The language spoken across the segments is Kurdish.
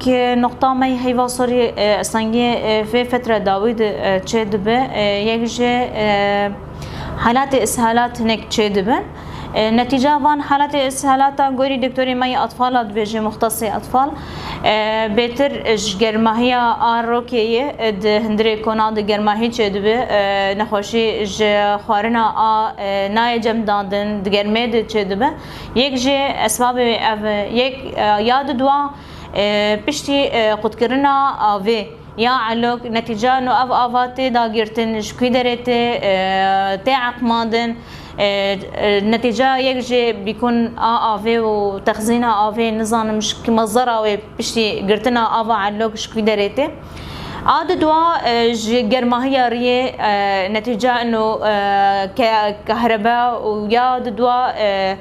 Ki noqta me yê heyva sorî sengî vê fetre dawî de çê dibe, yek jî helatê îshelat hinek çê dibin. Netîca van helatê îshelatan gorî doktorê me yê atfal a dibêje muxtesê atfal bêtir ji germahiya a rokê yê di hundirê kona de germahî çê dibe, nexweşî ji xwarina a nayê cem dandin di germê de çê dibe. Yek jî esbabê ev yek ya di dua. Piştî qutkirina avê ya Elok netîca no ev ava tê dagirtin ji kî derê tê tê eqmandin netîca yek jê bîkun a avê û texzîna avê nizanim ji kî mezera wê piştî girtina ava Elok ji kî derê tê a di dua ji germahiya riyê netîca no ke kehreba û ya di dua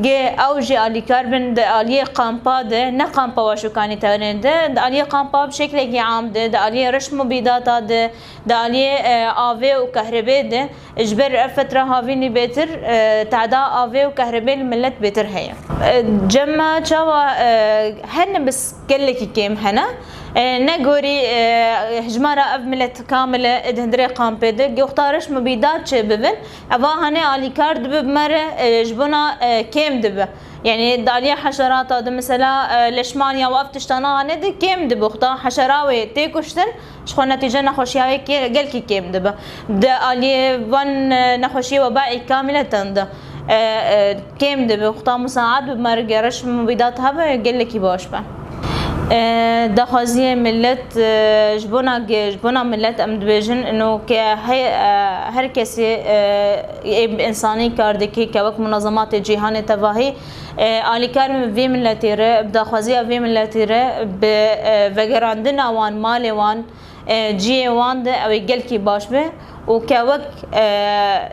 Gê ew jî alîkar bin di aliyê qampa de, ne qampa Waşûkanî tenê de, di aliyê qampa bi şeklekî am de, di aliyê reşm û bîdata de, di aliyê avê û kehrebê de. Ji ber ev fetra havînî bêtir teda avê û kehrebê li milet bêtir heye. Cema çawa hene bis gelekî kêm hene. Ne gorî hijmara ev milet kamil e di hundirê qampê de, goxta reşm û bîdat çêbibin. Eva hane alîkar dibe bi me re ji bona kêm dibe. Yanî daliya heşerata di mesela leşmaniya û ev tiştana hane di kêm dibe. Xuda heşera wê tê kuştin ji xwe netîce nexweşiya wê gelkî kêm dibe. Di aliyê van nexweşiyê webaî kamîletan de kêm dibe. Xuda misaet bibe me re geriş mubîdat hebe gelekî baş be. daxwaziyê millet ji bona ji bona millet em dibêjin ino ke heye her kesê ê bi insanî kar dikê ke wek munazematê cîhanê tevahî alîkar min vê milletê re bi daxwaziya vê milletê re bi vegerandina wan malê wan ciyê wan de ew ê gelkî baş be û ke wek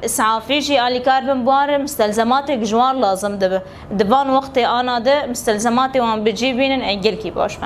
îsafî jî alîkar bin bûarê mistelzematêk ji wan lazim dibe. Di van wextê ana de mistelzematê wan bi cî bînin ê gelkî baş be.